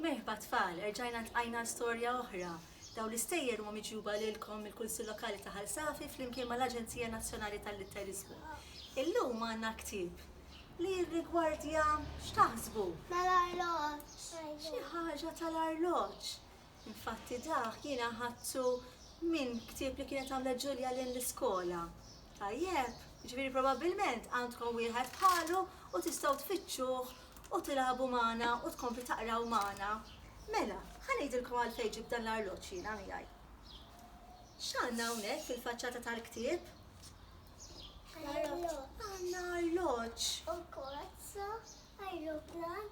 Merħba tfal, erġajna ltqajna għal storja oħra. Dawn l-istejjer huma miġjuba lilkom mill-Kunsill Lokali ta' Ħal Safi flimkien mal-Aġenzija Nazzjonali tal-Litteriżmu. Illum għandna ktieb li jirrigwardja x'taħsbu? Tal-arloġġ. Xi ħaġa tal-arloġġ. Infatti dak jiena ħadtu minn ktieb li kienet għamlet Ġulja lejn l-iskola. Tajjeb? Jiġifieri probabbilment għandkom wieħed bħalu u tistgħu tfittxuh u tilagħbu magħna u tkompli taqraw magħna. Mela, ħa ngħidilkom għalfejn ġibt dan l-arloġġ jiena miegħi. X'għandna hawnhekk fil-faċċata tal-ktieb? Għandna arloġġ. U kozza, ajruplan,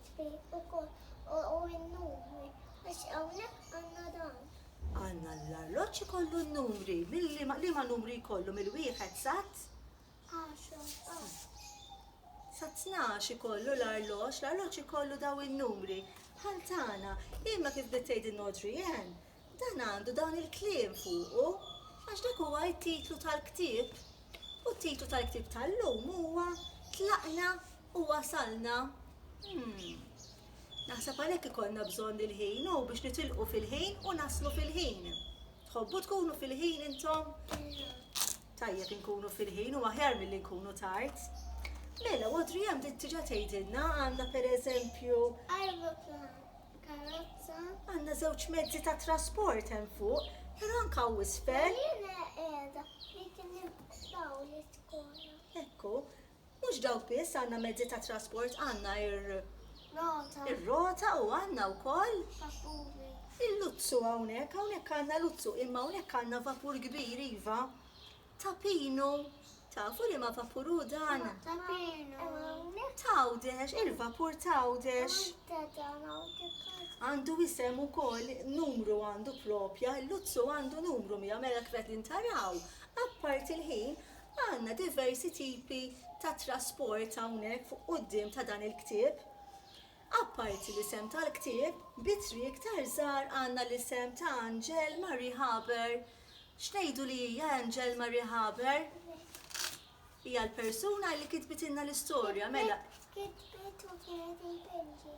Tpi ukoll u n-numri għax hawnhekk għandna dan. Għandna l-arloġġ ikollu n-numri, mil-liema, liema numri jkollu mill-wieħed sat? Sa tnax ikollu l-arloġġ, l-arloġġ ikollu daw in-numri bħal tagħna. Imma kif bdiet tgħidilna Audrey Ann, Dan għandu dawn il-kliem fuqu għax dak huwa t-titlu tal-ktieb. U t-titlu tal-ktieb tal-lum huwa Tlaqna u Wasalna. Umm. Naħseb għalhekk ikollna bżonn il-ħin, hu biex nitilqu fil-ħin u naslu fil-ħin. Tħobbu tkunu fil-ħin intom? Tajjeb inkunu fil-ħin, huwa aħjar milli nkunu tard. Mela, Audrey hemm diġà tgħidilna, għandna pereżempju. Ajruplan. Karozza. Għandna żewġ mezzi ta' trasport hemm fuq, però anke hawn isfel. Ekku, mhux dawk biss għandna mezzi ta' trasport għandna ir ir-rota u għandna wkoll il-luzzu hawnhekk, hawnhekk għandna luzzu imma hawnhekk għandna vapur kbir iva. Tapinu, tafu li ma vapur hu dan? Tapinu. Tawdex, il-vapur tawdex. Għandu isem ukoll numru għandu propja, l-luzzu għandu numru mija mela kifet li ntaraw. Apparti l-ħin, għandna diversi tipi ta' trasport hawnhekk fuq quddiem ta' dan il-ktieb. Apparti l-isem tal-ktieb, bi triq iktar żgħar għandna l-isem ta' Anġel Marie Haber X'ngħidu li hija Angel Marie Haber? Hija l-persuna li kitbitilna l-istorja, mela. Kitbet u kienet il-Belġi.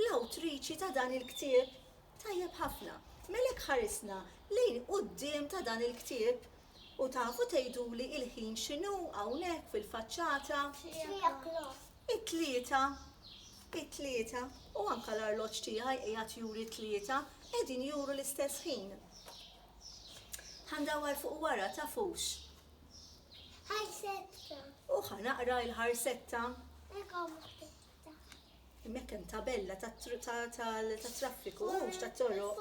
L-awtriċi ta' dan il-ktieb tajjeb ħafna. Mela jekk ħarisna lejn quddiem ta' dan il-ktieb u tafu tgħiduli l-ħin x'inhu hawnhekk fil-faċċata? Three o'clock. It-tlieta, it-tlieta, u anke l-arloġġ tiegħi qiegħed juri t-tlieta, qegħdin juru l-istess ħin. Ħa ndawwar fuq wara, tafux? Ħarsetta. U ħa naqra l-ħarsetta. Hemmhekk hemm tabella tat-traffiku, mhux tat-toroq.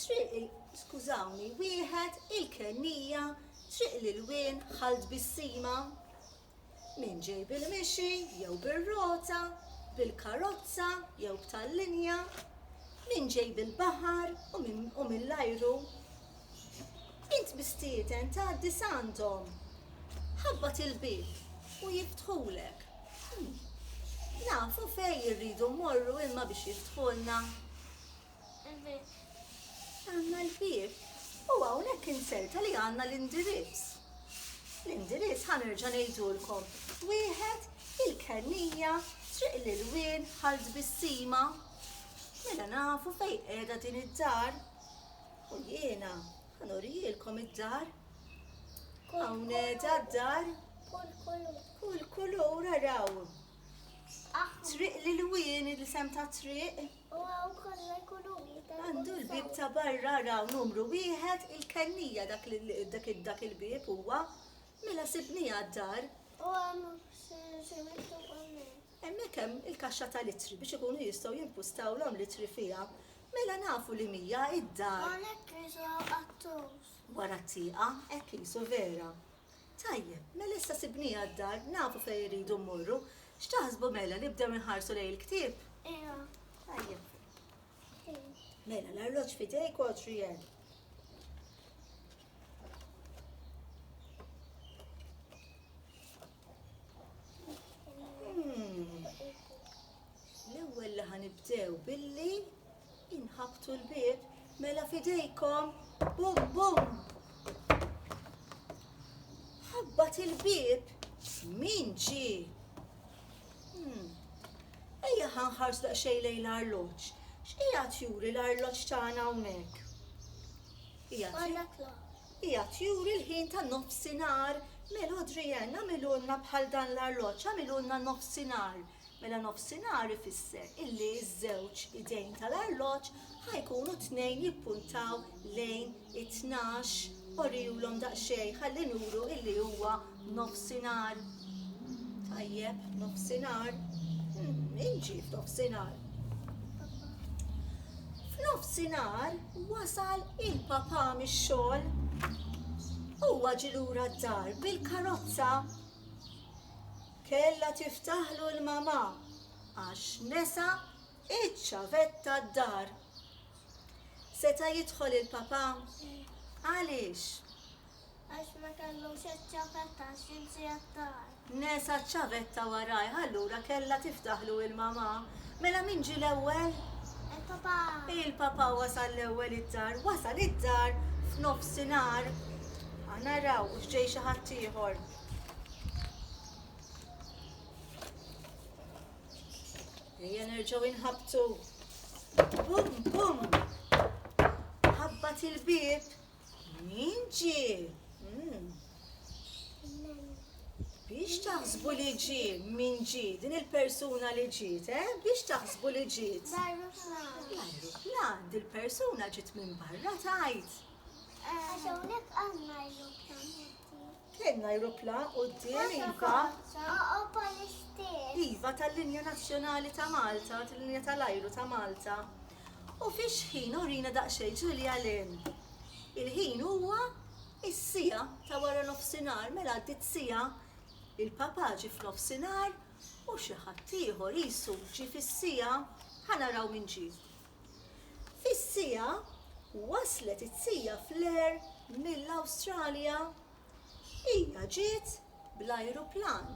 Triq il skużawni wieħed il-kennija Triq l-ilwien ħal tbissima Min ġej bil-mixi jew bir-rota Bil-karozza jew b'tal-linja Min ġej bil-baħar u min u mill-ajru Int mistieden tgħaddi s'għandhom Ħabbat il-bieb u jiftħulek Nafu fejn irridu mmorru imma biex jiftħulna Għandna l-bieb u hawnhekk inserta li għandna l-indirizz. L-indirizz ħa nerġa' ngħidulkom. Wieħed il-Kennija, Triq l-Ilwien, Ħal Tbissima. Mela nafu fejn qiegħda din id-dar. U jiena ħa nurielkom id-dar. Hawn qiegħda d-dar. Kull kulur. Kull kulur araw. Triq l-Ilwien, il-isem ta' triq. U hawn konna jkunu wieħed għal kull. Għandu l-bieb ta' barra araw numru wieħed il-kennija dak dak il-bieb huwa. Mela sibniha d-dar. U hemm xi miktub hemmhekk? Hemmhekk hemm il-kaxxa tal-ittri biex ikunu jistgħu jimpustawlhom l-ittri fiha. Mela nafu li mija id-dar. Hawnhekk qisu hawn qattus. Wara t-tieqa, hekk qisu vera. Tajjeb, mela issa sibnieha d-dar, nafu fejn irridu mmorru. X'taħsbu mela, nibdew inħarsu lejn il-ktieb? Iva. Tajjeb. Mela, l-arloġġ f'idejk, Adrian. Hmm. L-ewwel li ħanibdew billi Inħabbtu l-bieb, mela f'idejkom, bum bum! Ħabbat il-bieb, min ġi? Hmm. Ejja ħanħars daqsxejn lejn l-arloġġ. X'qiegħed juri l-arloġġ tagħna hawnhekk? Qiegħed juri l-ħin ta' nofsinhar. Mela Adrienne, għamilulna bħal dan l-arloġġ, għamilulna nofsinhar. Mela nofsinhar ifisser illi ż-żewġ idejn tal-arloġġ ħa jkunu t-tnejn jippuntaw lejn it-tnax, orihulhom daqsxejn ħalli nuru illi huwa nofsinhar. Tajjeb, nofsinhar. Min ġie f'nofsinhar? F'nofsinhar wasal il-papà mix-xogħol. Huwa ġie lura d-dar bil-karozza. Kellha tiftaħlu l-mamà għax nesa iċ-ċavetta d-dar. Seta' jidħol il-papà? Għaliex? Għax ma kellux iċ-ċavetta għax insieha d-dar. Nesa ċ-ċavetta warajh, allura kellha tiftaħlu il-mamà. Mela min ġie l-ewwel? Il-papà. Il-papà wasal l-ewwel id-dar. Wasal id-dar f'nofsinhar. Aħna nraw hux ġej xi ħaddieħor. Ejja nerġaw inħabtu. Bum, bum. Ħabbat il-bib. Min ġi? Hmm. Biex taħsbu li ġi, min ġi, din il-persuna li ġiet, eh? Biex taħsbu li ġiet. L-ajruplan, dil-persuna ġiet minn barra tajt. Għaxawnek għanna ajruplan. Kellna ajrupla quddiem iva. Iva tal-linja nazzjonali ta' Malta, tal-linja tal-ajru ta' Malta. U fiex ħin urina daqsxejn Ġulja Len. Il-ħin huwa is-sija ta' wara nofsinhar mela għaddit sija il-papa ġi f'nofsinhar u xi ħadd ieħor qisu ġi fis-sija ħa naraw min ġie. Fis-siegħa waslet it-Sija Flair mill-Awstralja. Hija ġiet bl-ajruplan.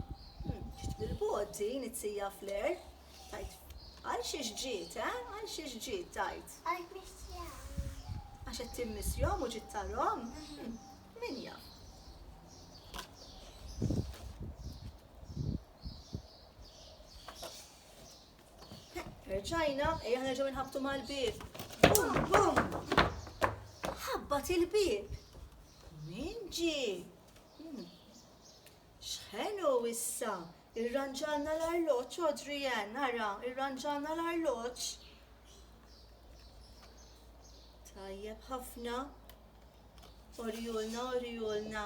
Ġiet bil-bogħod din it-Sija Flair, tgħid. Għal xiex ġiet, eh? Għal xiex ġiet, tgħid. Għax missjahom. Għax qed timmissjahom u ġiet tarahom? Min jaf. Rġajna, ejja nerġgħu nħabtu mal-bieb. Bum, bum! Ħabbat il-bieb. Min ġi? Hmm. Xħenu issa? Irranġalna l-arloġġ, Adrian, nara, irranġalna l-arloġġ. Tajjeb ħafna. Orijulna, orijulna.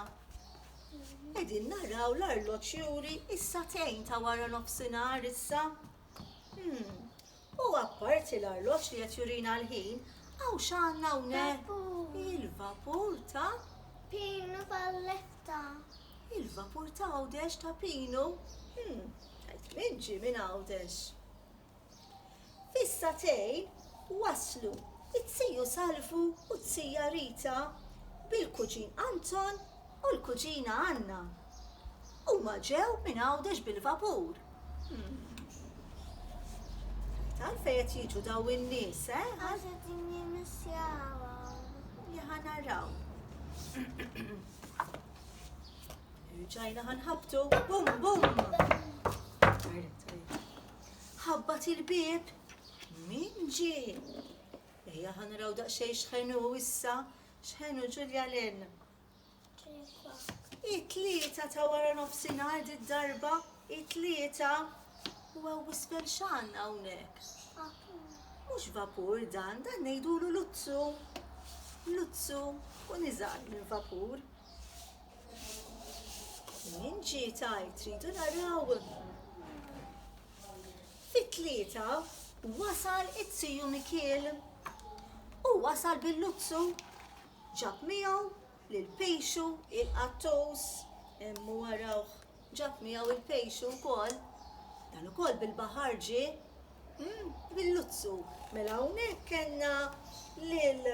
Qegħdin naraw l-arloġġ juri issa tejn ta' wara nofsinhar issa. Hmm. U apparti l-arloġġ li qed jurina l-ħin, għaw x'għandna hawnhekk? Il-vapur ta' Pinu Valletta. Il-vapur ta' Għawdex ta' Pinu. Hmm. Qed minġi minn Għawdex. Fis-sagħtejn waslu t-tiju Salvu u t-tija Rita bil-kuġin Anton u l-kuġina Anna. Huma ġew minn Għawdex bil-vapur. Tant għalfejn qed jiġu dawn in-nies, eh? Għax qed nimmissjawhom. Li ħa naraw. Irġajna ħanħabtu. Bum bum! Ħabbat il-bieb. Min ġie? Ejja ħa naraw daqsxejn x'ħenu issa, x'ħenu Ġulja Len. It-tlieta ta' wara nofsinhar di darba, it-tlieta u għaw wisbel xan hawnhekk. Mhux vapur dan, dan ngħidulu luzzu. Luzzu u niżgħar minn vapur. Jien ġiet għajt tridu naraw. Fit-tlieta wasal it-tiju Mikiel u wasal bil-luzzu ġab miegħu lil pixu il-qattus immu warawh Ġab miegħu l-pejxu wkoll. Dan ukoll bil-baħar ġie? Umm, bil-luzzu. Mela hawnhekk kellna lil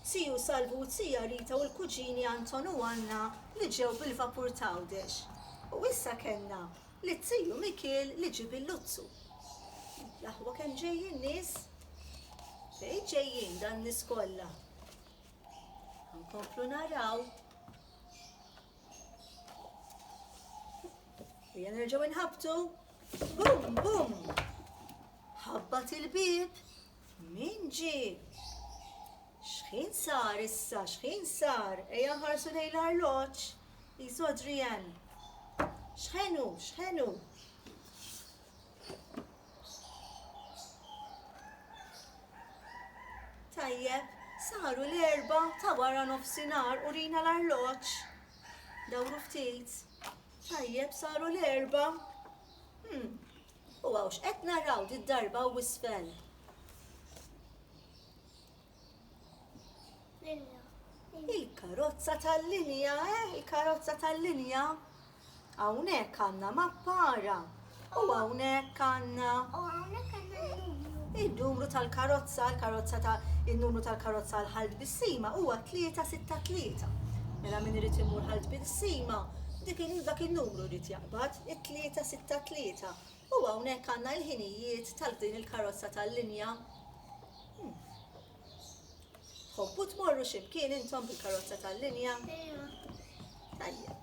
Siju Salvu u t-Sija Rita u l-kuġini Anton u Anna li ġew bil-vapur t'Għawdex. U issa kellna lit-Siju Mikiel li ġie bil-luzzu. L-aħwa kemm ġejjin nies! Fejn ġejjin dan nies kollha? Ħa nkomplu naraw. Ejja nerġgħu nħabtu. Bum, bum. Ħabbat il-bib. Min ġi? Xħin sar issa, xħin sar? Ejja nħarsu lejn l-arloġġ. Jisu Adrian. Xħenu, xħenu. Tajjeb, saru l-erbgħa ta' wara nofsinhar, urina l-arloġġ. Dawru ftit. Tajjeb, saru l-erbgħa. Hmm. U għawx qed naraw did-darba u isfel. Il-karozza tal-linja, eh, il-karozza tal-linja. Hawnhekk għandna mappa ara. U hawnhekk għandna. U hawnhekk għandna il-numru tal-karozza, il-karozza ta' il-numru tal-karozza għal ħalt bissima huwa 363. Mela min irid imur ħalt bissima, dik dak il-numru rrid jaqbad, it-363. U hawnhekk għandna l-ħinijiet tal din il-karozza tal-linja. Hmm. Hobbu tmorru ximkien intom bil-karozza tal-linja? Tajjeb.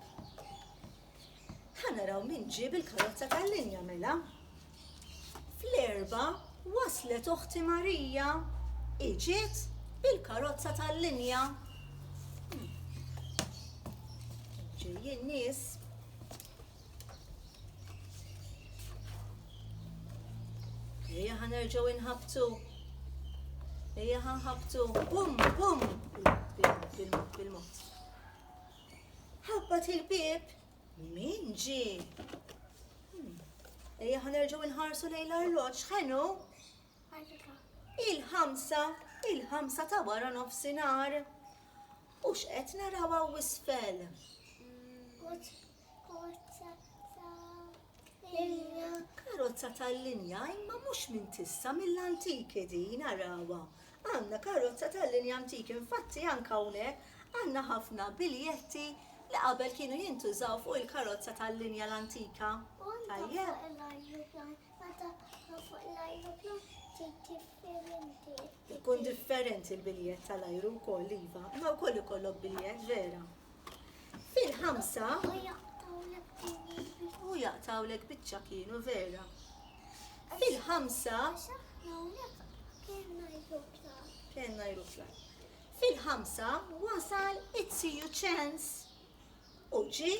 Ħanaraw min ġib il-karozza tal-linja mela. Fl-erba waslet oħti Marija iġiet bil-karozza tal-linja. Ġejjin nies Ejja ħanerġaw inħabtu. Ejja ħanħabtu. Bum, bum. Bil-mod. Ħabbat il-bib. Min ġi? Hmm. Ejja ħanerġaw inħarsu lejn l-arloġġ. Ħenu? Il-ħamsa, il-ħamsa ta' wara nofsinhar. U x'qed naraw hawn isfel? Karozza tal-linja, imma mhux minn tissa mill-antiki din arawa. Għandna karozza tal-linja antiki, infatti anke hawnhekk għandna ħafna biljetti li qabel kienu jintużaw fuq il-karozza tal-linja l-antika. Tajjeb. Ikun differenti l-biljett tal-ajru wkoll iva, ma wkoll ikollok biljett vera. Fil-ħamsa. U jaqtawlek biċċa kienu vera. Fil-ħamsa. Kenna jrufla. Fil-ħamsa wasal it-siju ċens u ġi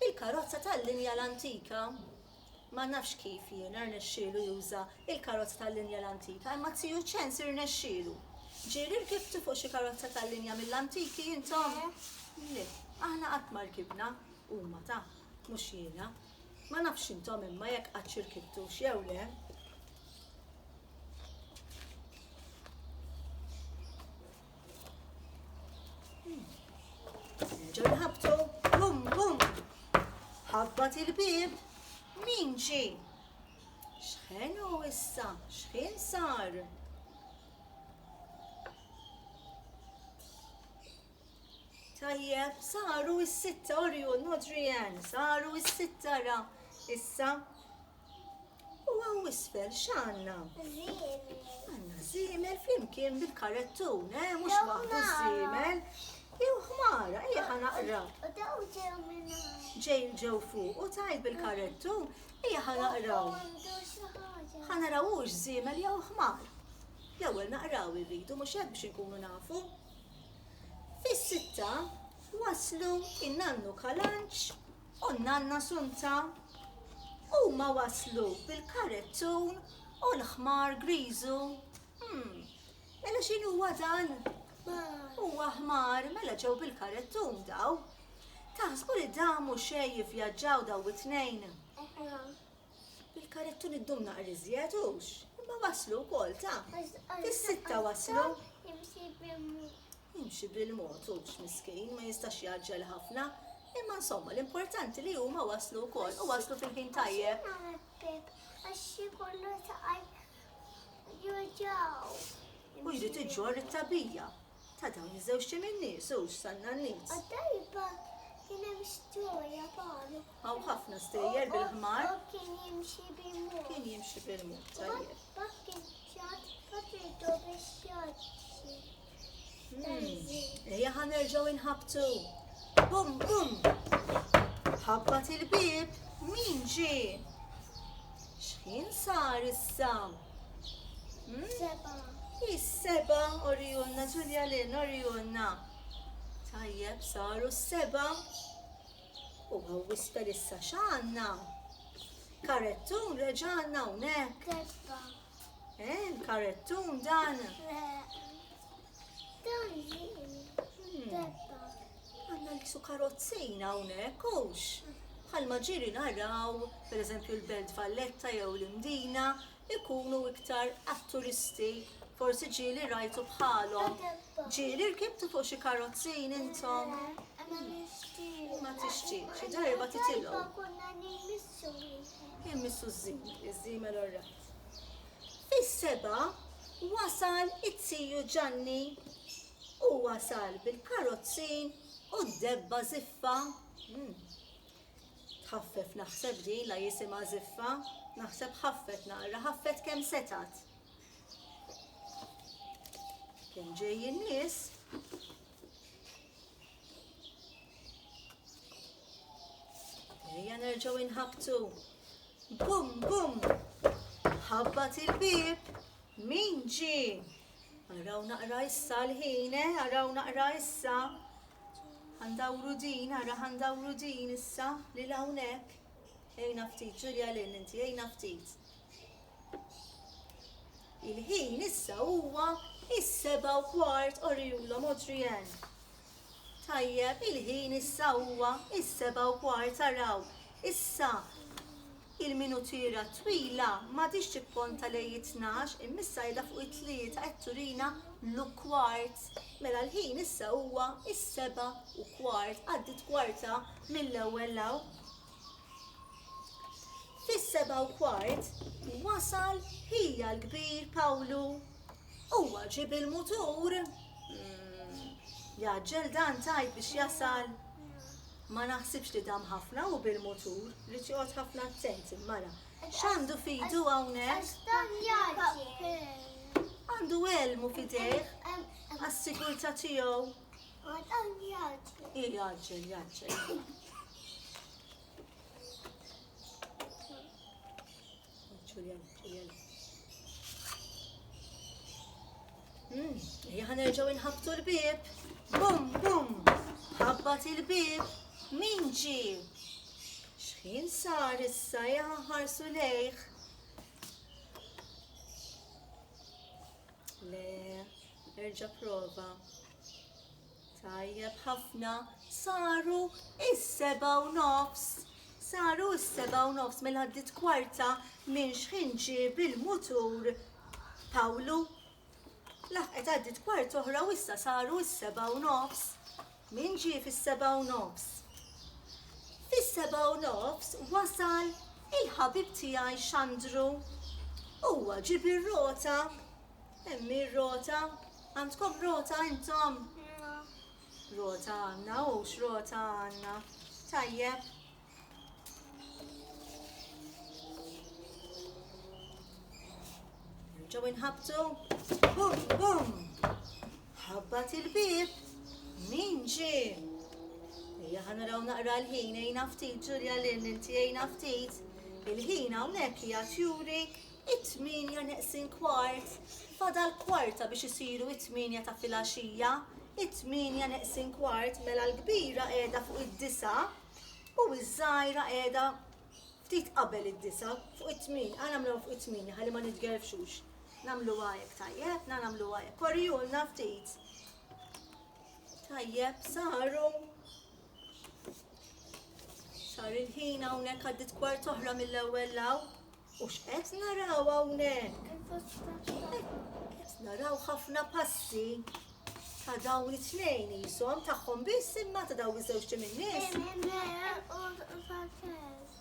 il-karozza tal-linja l-antika. Ma nafx kif jiena rnexxielu juża l-karozza tal-linja l-antika imma t-tiju Ċens irnexxielu. Ġieli rkibtu fuq xi karozza tal-linja mill-antiki intom? Le, aħna qatt ma rkibna, huma ta, mhux jiena. Ma nafx intom imma jekk qattx irkibtux jew le. Ġon ħabtu, bum bum. Ħabbat il-bib, min ġi? Xħenu issa, xħin sar? Tajjeb, saru is-sitta orju, nodri saru is-sitta ra, issa U hawn isfel x'għandna? Żiemel. Għandna żiemel flimkien bil-karettun, eh, mhux waħdu żiemel. Jew ħmara, ejja ħa naqra. U daw ġew minn Ġej ġew fuq u tajt bil-karettun, ejja ħa naqraw. Ħa naraw hux żiemel jew ħmar. L-ewwel naqraw irridu mhux hekk biex inkunu nafu. Fis-sitta waslu in-nannu kalanċ u n-nanna Sunta. Huma waslu bil-karettun u l-ħmar griżu. Hm, mela x'inhu huwa dan? Ħmar. Huwa ħmar, mela ġew bil-karettun daw. Taħsbu li damu xejn jivvjaġġaw daw it-tnejn? Eħe. Bil-karettun iddum naqra iżjed hux? Imma waslu wkoll ta. Fis-sitta waslu. Jimxi bil-mod hu x'miskin, ma jistax jgħaġġel ħafna, imma insomma l-importanti li huma waslu wkoll u waslu fil-ħin tajjeb. Għax xi kollu taqaj juġaw. U jrid iġġor it-tabija ta' dawn iż-żewġ tim in-nies u x'sanna n-nies. Għaddajba kien hemm storja palu. Hawn ħafna stejjer bil-ħmar. U kien jimxi bil-mod. Kien jimxi bil-mod tajjeb. Bakkin ċat, bakkin biex jgħaddi. Ejja ħa nerġgħu inħabtu. Bum bum. Ħabbat il-bib. Min ġi? X'ħin sar issa? Hmm? Seba. Is-seba orijunna, Ġulja Lin orijunna. Tajjeb saru s-seba. U għaw wisper issa x'għandna? Karettun reġgħalna hawnhekk. Testa. Eh, karettun dan. Dan debba. Għanna l-kisu karozzina unek, ux. Bħal maġiri naraw, per eżempju, l-Belt Valletta jew l-Imdina, ikunu iktar għat-turisti. Forsi ġili rajtu bħalhom. Ġili rkibtu fuq xi karozzin intom. Ma tixtieq, xi darba titilgħu. Immissu ż-żim, iż-żimel orra. Fis-sebgħa wasal it-tiju Ġanni. Hu wasal bil-karozzi u d-debba żiffa. Tħaffef naħseb din la jisimha żiffa, naħseb ħaffet naqra, ħaffet kemm setgħet. Kien ġej in-nies Ejja nerġgħu inħabtu. Bum, bum! Ħabbat il-bib. Min ġi? Araw naqra issa l-ħine, eh? araw naqra issa. Għandawru din, ara għandawru din issa li lawnek. Ejna ftit, ġurja l inti, ejna ftit. Il-ħin issa huwa is-seba' u kwart, orihulhom Adrienne. Tajjeb, il-ħin issa huwa is-seba' u kwart, araw. Issa il-minutiera twila m'għadhiex tipponta lejn it-tnax, imma issa qiegħda fuq it-tlieta qed turina l-ukwart. Mela l-ħin issa huwa is-seba' u kwart, għaddiet kwarta mill-ewwel law. Fis-sebgħa u kwart wasal ħija l-kbir Pawlu. Huwa ġib il-mutur. Hmm, jaġġel dan tajt biex jasal. Ma naħsibx li dam ħafna u bil-mutur, li joqgħod ħafna attent mara. X'għandu fidu hawnhekk? Għandu elmu fidejh għas-sigurtà tiegħu. Għaġġel, għaġġel. Hi għaġġel, għaġġel. Ġulja, Ġulja. Hmm, Jahan erġaw inħabtu l-bib. Bum, bum. Ħabbat il-bib. Min ġi? Xħin sar issa jahan ħarsu lejħ. Le, erġa' prova. Tajjeb ħafna, saru is-seba' u nofs. Saru is-seba' u nofs mela għaddit kwarta minn xħin ġib il-mutur Pawlu. Laħqet għaddit kwarta oħra u issa saru is-seba' u nofs. Min ġie fis-sebgħa u nofs? Fis-sebgħa u nofs wasal il-ħabib tiegħi Xandru. Huwa ġieb ir-rota. Hemm hi r-rota? Għandkom rota intom? Rota għandna, hux rota għandna. Tajjeb. Nerġgħu inħabtu. Bum, bum. Ħabbat il-bib. Min ġi? Ejja ħana raw naqra l-ħin, ejna ftit, Ġulja l inti ejna ftit. Il-ħin hawnhekk hija tjuri it-tminja neqsin kwart. Fada l-kwarta biex isiru it-tminja ta' filaxija. It-tminja neqsin kwart mela l-kbira qiegħda fuq id-disa' U ż-żgħira qiegħda ftit qabel id-disgħa, fuq it-tmin, għal nagħmluha fuq it-tmin ħalli ma nitgerfxux. Nagħmluha hekk tajjeb, na nagħmluha hekk. Korrijulna ftit. Tajjeb, saru. Sar il-ħin hawnhekk għaddit kwart oħra mill-ewwel law. U x'qed naraw hawnhekk? Qed naraw ħafna passi ta' dawn it-tnejn jisom tagħhom biss imma ta' dawn iż-żewġ tim in-nies.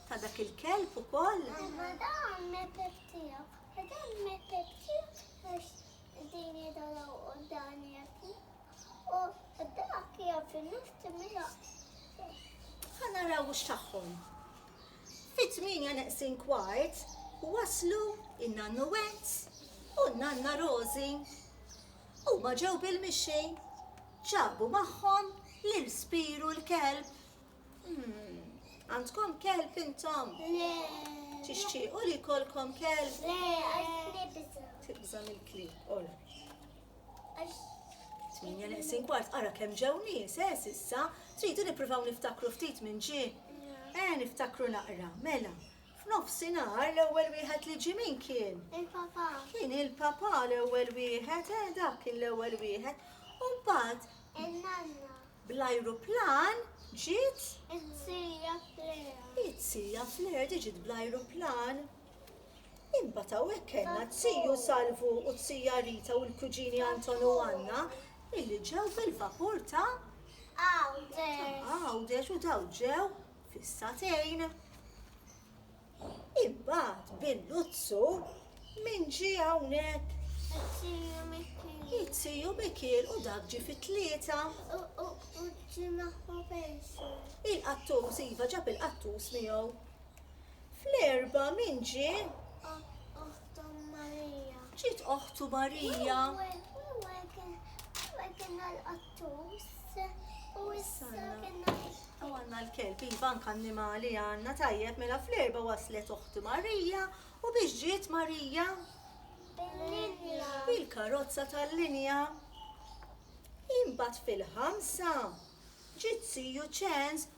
Ta' dak il-kelb ukoll. Ma dan me peptija. Dan me peptija għax din jidalaw u dan jaki. U dak jaf il-nifti mila. Ħanaraw x'tagħhom. Fit-tmienja neqsin kwart waslu n-Nannu Wett u n-Nanna Rożi. Huma ġew bil-mixi. Ġabu magħhom lil Spiru l-kelb. Għandkom kelb intom? Le. Tixtiequ li jkollkom kelb? Le, għax nibża'. Tibża' mill-klieb, all right. Tmienja neqsin kwart, ara kemm ġew nies, eh, s'issa? Tridu nippruvaw niftakru ftit minn ġie? Eh, niftakru naqra, mela. F'nofsinhar l-ewwel wieħed li ġie min kien? Il-papà. Kien il-papà l-ewwel wieħed, eh, dak kien l-ewwel wieħed. U mbagħad? In-nanna. Bl-ajruplan ġiet? It-tija Fleur. It-tija Fleur diġiet bl-ajruplan. Imbagħad hawnhekk kellna t-tiju Salvu u t-tija Rita u l-kuġini Anton u Anna illi ġew bil-vapur ta' Għawdex u daw ġew fis-satejn. Imbagħad bil-luzzu min ġie hawnhekk? It-tiju Mikiel u dak ġie fit-tlieta. Il-qattus iva ġab il-qattus miegħu. Fl-erbgħa min ġie? Oħtu Marija. Ġiet oħtu Marija. Għanna l-kelb, iva anka annimali għanna tajjeb mela fl-erba waslet uħti Marija u biex ġiet Marija? Bil-linja. Bil-karozza tal-linja. Imbat fil-ħamsa ġiet siju ċens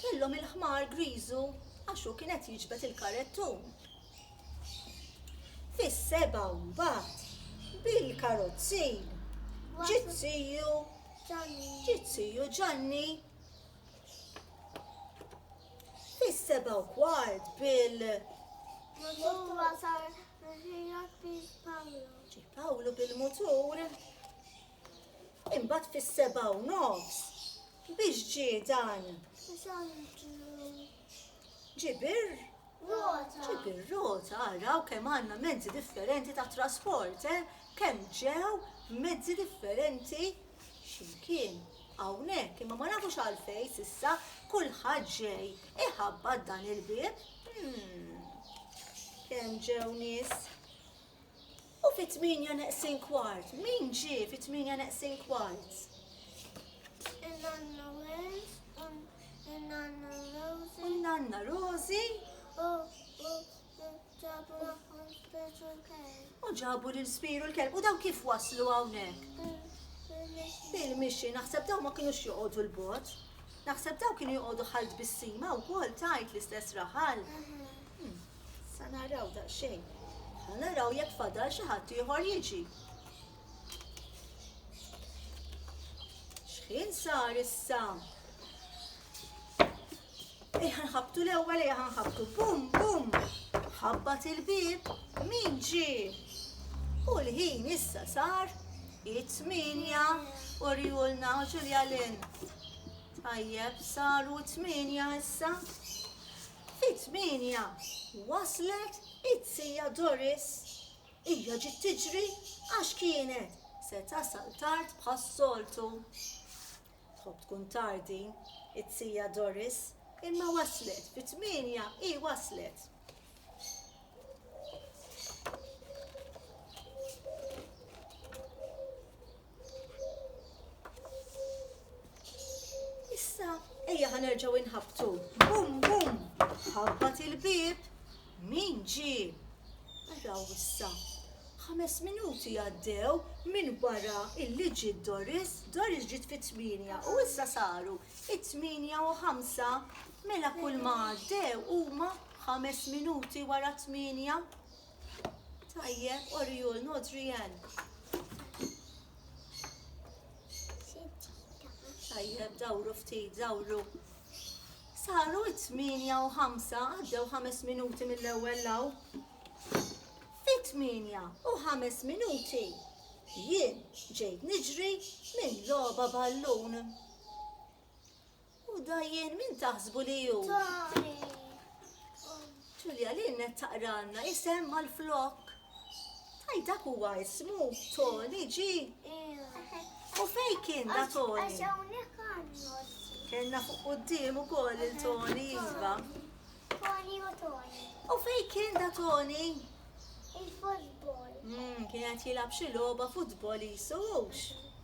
kellhom il-ħmar griżu għax hu kien qed jiġbed il-karettun. Fis-seba' mbagħad bil-karozzi ġiet siju ġiet siju Ġanni fis-seba' u kwart bil Pawlu bil-mutur Imbagħad fis-sebgħa u nofs biex ġie dan. Ġibir Rota. Ġibir rota, araw kemm għandna mezzi differenti ta' trasport, eh? Kemm ġew mezzi differenti x'imkien hawnhekk, imma ma nafux għalfejn s'issa kulħadd ġej iħabbat dan il-bieb. Hmm. Kemm ġew nies U fit-tmienja neqsin kwart, min ġie fit-tmienja neqsin kwart? Il-nanna Wales, il-nanna Rosie. U l-nanna Rosie. U ġabu maħħom spiċu l-kelb. U ġabu l-spiru l-kelb. U daw kif waslu għawnek? Bil-mixi, naħseb daw ma kienux joqodu l-bot. Naħseb daw kienu joqodu ħalt bissima u kol tajt l-istess raħal. Hm, sa naraw daqsxejn. Ħa naraw jekk fadal xi ħadd ieħor jiġi. X'ħin sar issa? Ejja nħabtu l-ewwel ejja nħabtu bum bum. Ħabbat il-bib min ġie. U l-ħin issa sar it-tminja u rjulna Ġulja Lin. Tajjeb saru t-tminja issa. Fit-tmienja waslet it-tija Doris. Hija ġiet tiġri għax kienet se tasal tard bħas-soltu. Tħobb tkun tard din, it-tija Doris, imma waslet, fit-tmienja hi waslet. Issa, ejja ħanerġaw inħabtu. Bum, bum, ħabbat il-bib. Min ġi? Araw issa. Ħames minuti għaddew minn wara illi ġi Doris, Doris ġiet fit tminja u issa saru it tminja u ħamsa mela kull ma għaddew huma ħames minuti wara tminja. Tajjeb, Oriol, no Drian. Tajjeb, dawru ftit, dawru. Saru t-tminja u ħamsa, għaddew ħames minuti mill-ewwel law. Fit-tminja u ħames minuti jien ġejt niġri minn logħba ballun. U dajjen min taħsbu li ju? Tari. Ġulja li net taqranna isem mal-flok. Taj dak huwa ismu Tony ġi. U fej kien da Tony? Kenna fuq qoddim ukoll il-Tony iva. Tony u Tony. U fej kien da Tony? Il-futbol. Hmm, kien qed jilgħab xi logħba futbol jisux.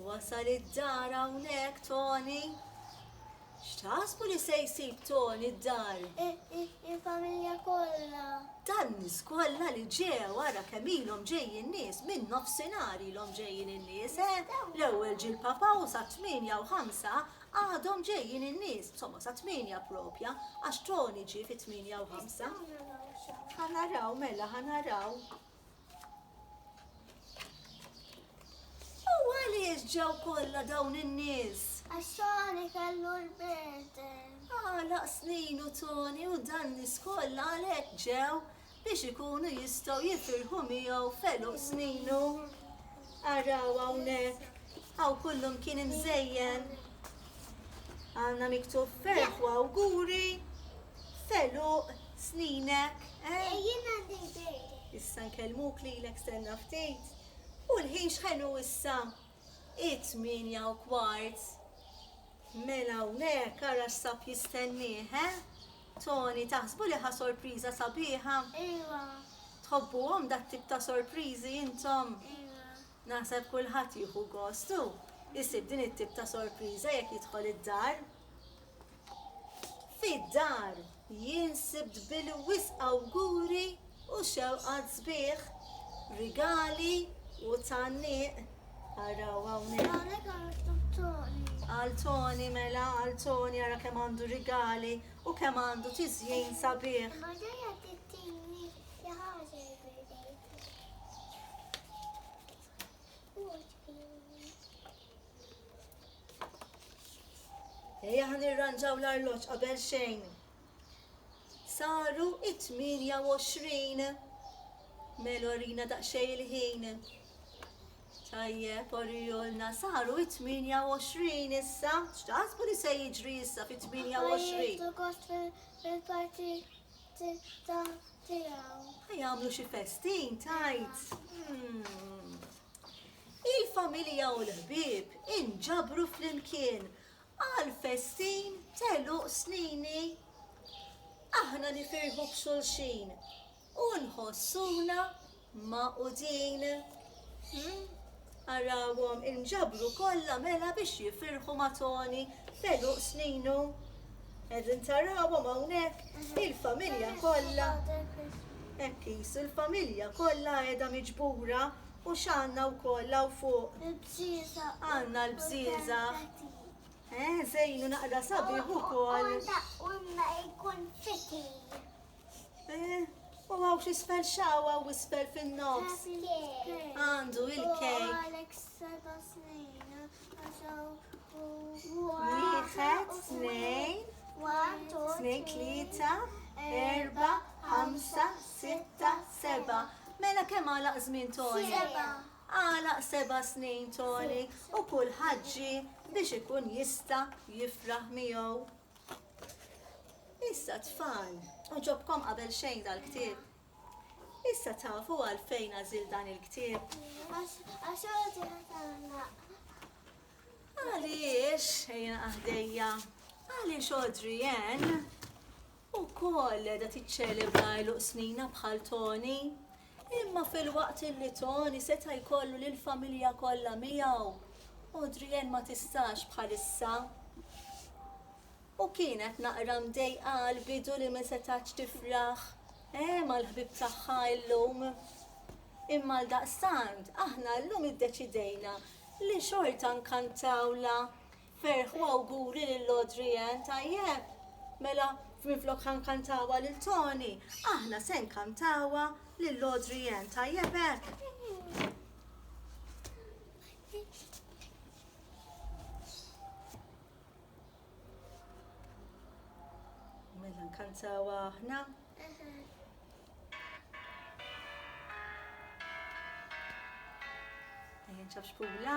Wasal id-dar hawnhekk Toni? X'taħsbu li se jsib Toni d-dar? Il-familja kollha. Tan-nies kollha li ġew ara kemm ilhom ġejjin nies, minn nofsinhar ilhom ġejjin in-nies, eh? L-ewwel ġie l-Papa u sa tmienja u ħamsa għadhom ġejjin in-nies, insomma sa tmienja proprja, għax Toni ġie fi tmienja u ħamsa. Ħa naraw mela, ħa naraw. U għaliex ġew kollha dawn in-nies? Għax Tony kellu l-birthday. Għalaq snin u Tony u dan nies kollha għalhekk ġew biex ikunu jistgħu jifirħu miegħu f'għeluq sninu. Araw hawnhekk, hawn kullum kien imżejjen. Għandna miktub ferħ u awguri f'għeluq sninek. Eh? Jien għandi l-birthday. Issa nkellmuk lilek stenna ftit. U l-ħin x'ħelu issa? It-tmienja u kwart. Mela hawnhekk ara x'sab jistennieh, eh? Tony, taħsbu li ħa sorpriża sabiħa? Iva. Tħobbuhom dat-tip ta' sorpriżi intom? Iva. Naħseb kulħadd jieħu gost u jsib din it-tip ta' sorpriża jekk jidħol id-dar. Fid-dar jien sibt bil-wisq awguri u xewqat sbieħ, rigali u tgħanniq. Araw hawnhekk. Għal Toni mela, għal Toni ara kemm għandu rigali u kemm għandu tiżjin sabiħ. Ejja ħan irranġaw l-arloġġ qabel xejn. Saru 28 Melo rina daqxej il-ħin. Tajjeb, orijolna, saru 28 issa, xtaħsbu li se jiġri issa fi 28. Għajt u kost fil-parti Tista' tiegħu. Ħa jagħmlu xi festin tajt. Hmm. Il-familja u l-ħbieb inġabru flimkien għal festin teluq snini. Aħna nifirħu b'xulxin u nħossuna magħqudin, arawhom inġabru kollha mela biex jifirħu ma' Toni f'għeluq sninu. Qegħdin tarawhom hawnhekk il-familja kollha. Hekk qisu l-familja kollha qiegħda miġbura u x'għandna wkoll hawn fuq. Il-bżieża. Għandna l-bżieża. Eh, żejnu naqra sabiħ ukoll. U imma jkun fiti. U għaw xisfel xawa u isfel fin-nofs. Għandu il-kej. Għalek seba snin, għaxaw u Wieħed, snejn, snejn, tlieta, erba, ħamsa, sitta, seba. Mela kemm għalaq żmien Tony? Għalaq seba snin Tony u kull ħaġġi biex ikun jista jifraħ miegħu. Issa tfal, oġobkom qabel xejn dal-ktieb. Issa tafu għalfejn għażil dan il-ktieb. Għax Għaliex, ejja għahdejja, għaliex Audrey Ann u koll da tiċċelebra l-uqsnina bħal Tony. Imma filwaqt li Tony seta' jkollu lill-familja kollha miegħu, Adrienne ma tistax bħalissa. U kienet naqra mdejqa għall-bidu li ma setgħetx tifraħ mal-ħbieb tagħha llum. Imma għaldaqstant aħna llum iddeċidejna li xorta nkantawlha Ferħ u awguri lil Audrey Ann, tajjeb? Mela minflok ħa nkantawha lil Tony, aħna se nkantawha lil Audrey Ann, tajjeb hekk? Mela nkantawha aħna? Ejja nċafxpula.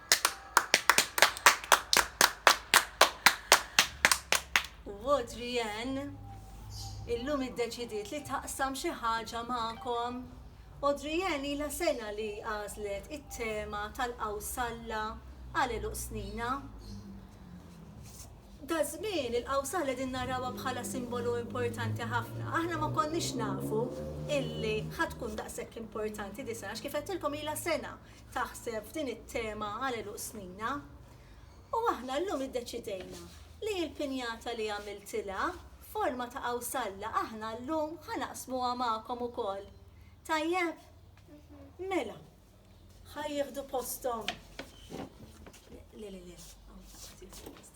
Adrienne illum iddeċidiet li taqsam xi ħaġa magħkom. Adrienne ilha sena li għażlet it-tema tal-qawsalla għal eluq snina. Da żmien il-qawsalla din narawha bħala simbolu importanti ħafna. Aħna ma konniex nafu illi ħatkun daqshekk importanti di sena, kif qedtilkom ilha sena taħseb f'din it-tema għal għeluq snina. U aħna llum iddeċidejna li l-pinjata li għamiltilha f'forma ta' qawsalla aħna llum ħa naqsmuha magħkom ukoll. Tajjeb? Mela, ħa jieħdu posthom. Le, le, le, hawn taħt.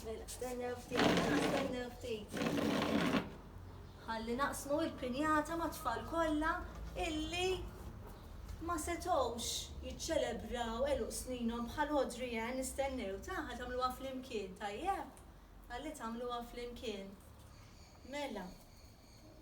Mela, stennew ftit, stennew ftit. Ħalli naqsmu il-pinjata ma' tfal kollha illi ma setgħux jiċċelebraw eluq sninhom bħal Audrey Ann nistennew taħħa tagħmluha flimkien tajjeb. Ħalli tagħmluha flimkien. Mela,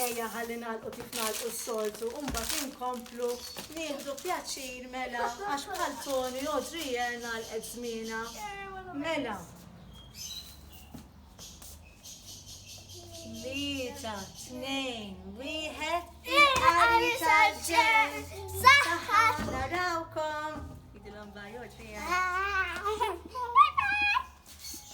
Ejja ħalli nagħlqu kif nagħlqu s-soltu u mbagħad inkomplu nieħdu pjaċir mela għax bħal Tony Audriel nagħlqet żmienha. Mela. Tlieta, tnejn, wieħed, il-qari tal-ġen. Saħħa narawkom. Idilhom bajjoġ fija.